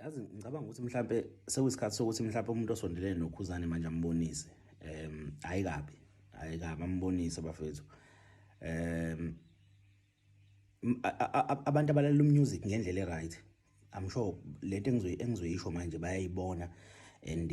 yazi ngicabanga ukuthi mhlampe sekuyisikhathi sokuthi mhlampe umuntu osondelene nokhuzane manje ambonise em hayi kabi hayi kabi ambonise bafethu em abantu abalalela umusic ngendlela eright i'm sure lento engizoyisho manje bayayibona and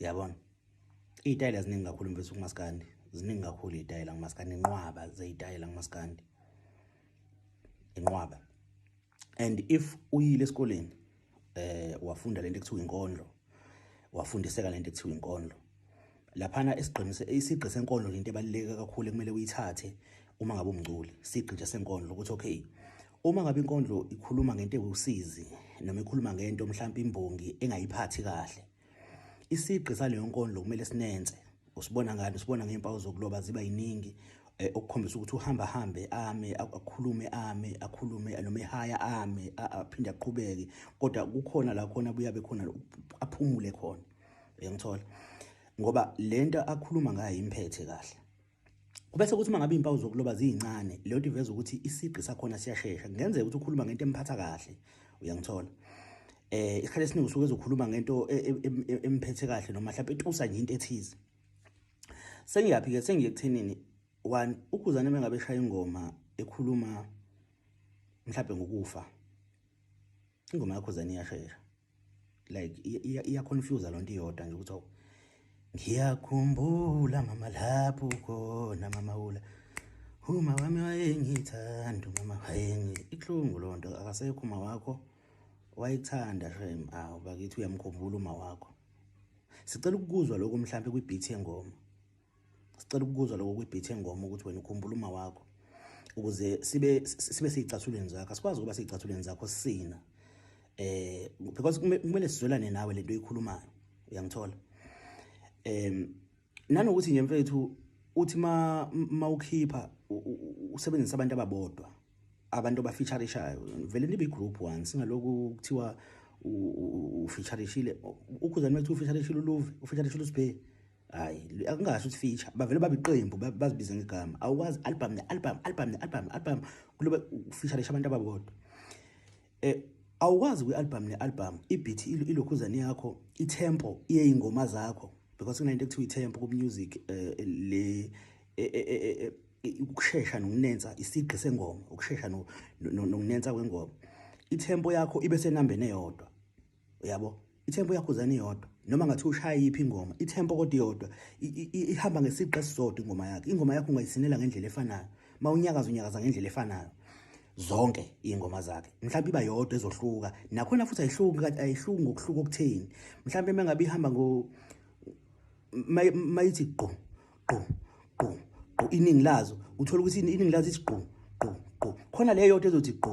yabona iy'tayela ziningi kakhulu mfethu kumaskandi ziningi kakhulu iy'tayela kumaskandi inqwaba zey'tayela kumaskandi inqwaba and if uyile esikoleni eh wafunda lento ekuthiwa inkondlo wafundiseka lento ekuthiwa inkondlo laphana esigqinise isigqi senkondlo into ebaluleke kakhulu ekumele uyithathe uma ngabe umngculi sigqi nje senkondlo ukuthi okay uma ngabe inkondlo ikhuluma ngento ewusizi noma ikhuluma ngento mhlawumbe imbongi engayiphathi kahle isigqi saleyo nkondlo kumele sinenze usibona ngani usibona ngey'mpawu zokuloba ziba yiningi um okukhombisa ukuthi uhamba hambe ame akhulume ame akhulume noma ehaya ame aphinde aqhubeke kodwa kukhona la khona buyabe khona aphumule khona uyangithola ngoba le nto akhuluma ngayo imphethe kahle Kubese kuthi mangabe impawu zokuloba ziyincane, leyo nto iveza ukuthi isigqi sakhona siyashesha. Kungenzeka ukuthi ukhuluma ngento emphatha kahle, uyangithola. Eh isikhathi esiningi usuke ezokhuluma ngento e, e, e, emphethe kahle noma mhlawumbe etusa nje into ethize. Sengiyaphi ke sengiye kuthenini one ukuzana mengabe shaya ingoma ekhuluma mhlawumbe ngokufa. Ingoma yakho zani iyashesha. like iya confuse lonto iyodwa nje ukuthi awu ngiyakhumbula mama lapho khona mama ula uma wami wayengithanda mama wayengi ihlungu lonto akasekho uma wakho wayithanda shem awu bakithi uyamkhumbula uma wakho sicela ukuzwa lokho mhlambe kwi beat yengoma sicela ukukuzwa lokho kwibhithe ngoma ukuthi wena ukhumbula uma wakho ukuze sibe sibe siyicathulweni zakho asikwazi ukuba siyicathulweni zakho sina eh because kumele sizwelane nawe lento oyikhulumayo uyangithola em nanokuthi nje mfethu uthi ma mawukhipha usebenzisa abantu ababodwa abantu abafeaturishayo vele nibe igroup one singaloku kuthiwa ufeaturishile ukhuzani mekuthiwa ufeaturishile uluve ufeaturishile usibheki hayi akungasho ukuthi feature bavele babe iqembu bazibize ngegama awukwazi album ne album album ne album album kuloba feature abantu ababodwa eh awukwazi kwi album ne album ibeat ilokhuzane yakho itempo iye ingoma zakho because kunento ekuthiwa itempo ku music eh, le eh, eh, ukushesha nokunensa isigqi sengoma ukushesha nokunensa kwengoma itempo yakho ibe senambeni eyodwa uyabo ithempo yakhuzana iyodwa noma ngathi ushaya yiphi ingoma ithempo kodwa iyodwa ihamba ngesiqe esisodwa ingoma yakhe ingoma yakho ungayisinela ngendlela efanayo uma unyakaza unyakaza ngendlela efanayo zonke ingoma zakhe mhlawumbe iba yodwa ezohluka nakhona futhi ayihluki kanti ayihluki ngokuhluka okutheni mhlawumbe mengabe ihamba ngo mayithi gqo gqo gqo gqo iningi lazo uthola ukuthi iningi lazo ithi gqo gqo gqo khona leyo yodwa ezothi gqo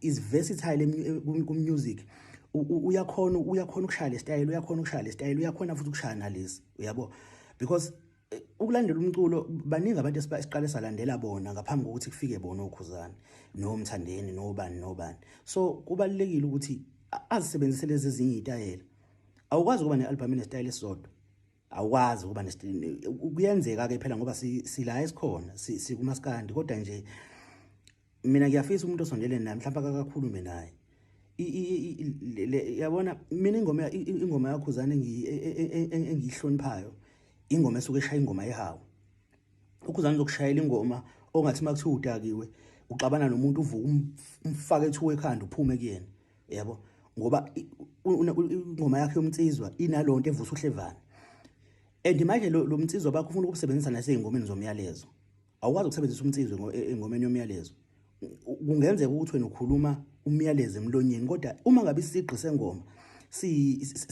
is versatile kumusic uyakhona uyakhona ukushaya lesitayela uyakhona ukushaya lesitayela uyakhona futhi ukushaya nalesi uyabo because eh, ukulandela umculo baningi abantu esiqale salandela bona ngaphambi kokuthi kufike bona okhuzane nomthandeni nobani nobani so kubalekile ukuthi azisebenzise lezi ezinye itayela awukwazi ukuba ne-albhamu nesitayela esisodwa awukwazi ukuba kuyenzeka-ke phela ngoba sila esikhona sikumaskandi kodwa nje mina ngiyafisa umuntu osondele naye mhlawumbe akakakhulume naye yabona mina ingoma ingoma yakhuzana e, e, e, engiyihloniphayo ingoma esuke eshaya ingoma yehawu ukhuzana uzokushayela ingoma ongathi uma kuthiwa udakiwe uxabana nomuntu uvuka um, umfake ethuka ekhanda uphume kuyena yabo ngoba ingoma yakhe yomnsizwa inalonto evusa uhlevana and manje lo mnsizwa bakho ufuna ukusebenzisa nasey'ngomeni zomyalezo awukwazi ukusebenzisa umnsizwe e, engomeni yomyalezo kungenzeka ukuthi wena ukhuluma umyalezo emlonyeni kodwa uma ngabe isigqi sengoma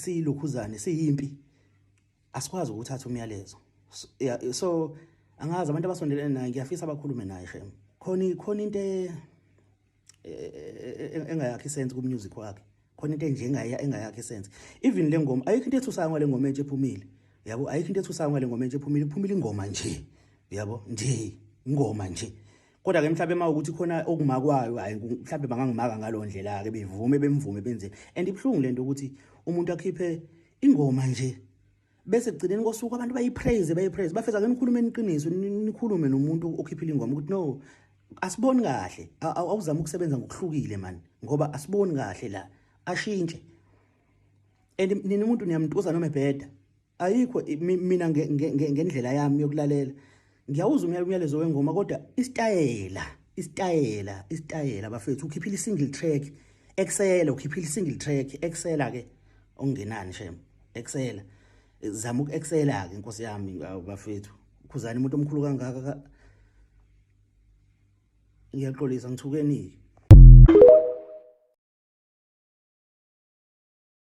siyilokhuzane siyimpi asikwazi ukuthatha umyalezo so angazi abantu abasondelene naye ngiyafisa abakhulume naye shem khona khona into e, e, e, engayakhi sense ku music wakhe khona into enjengaya engayakhi sense even le ngoma ayikho into ethusayo ngale ngoma entshe ephumile yabo ayikho into ethusayo ngale ngoma entshe ephumile iphumile ingoma nje yabo nje ingoma nje kodwa ke mhlawumbe uma ukuthi khona okumakwayo hayi mhlawumbe bangangimaka ngalo ndlela ke bevume bemvume benze and ibhlungu lento ukuthi umuntu akhiphe ingoma nje bese kugcineni kosuku abantu bayipraise bayipraise bafeza ke nikhulume eniqiniso nikhulume nomuntu okhiphile ingoma ukuthi no asiboni kahle awuzama ukusebenza ngokuhlukile man ngoba asiboni kahle la ashintshe and nina umuntu niyamntuza noma ebheda ayikho mina ngendlela yami yokulalela ngiyawuzwa umyalezo wengoma kodwa isitayela isitayela isitayela bafethu ukhiphile i-single track ekusela ukhiphile i-single track ekusela-ke okungenani shem ekusela zama uku-excela-ke inkosi yami bafethu khuzani umuntu omkhulu kangaka ngiyaxolisa ngithukeni-ke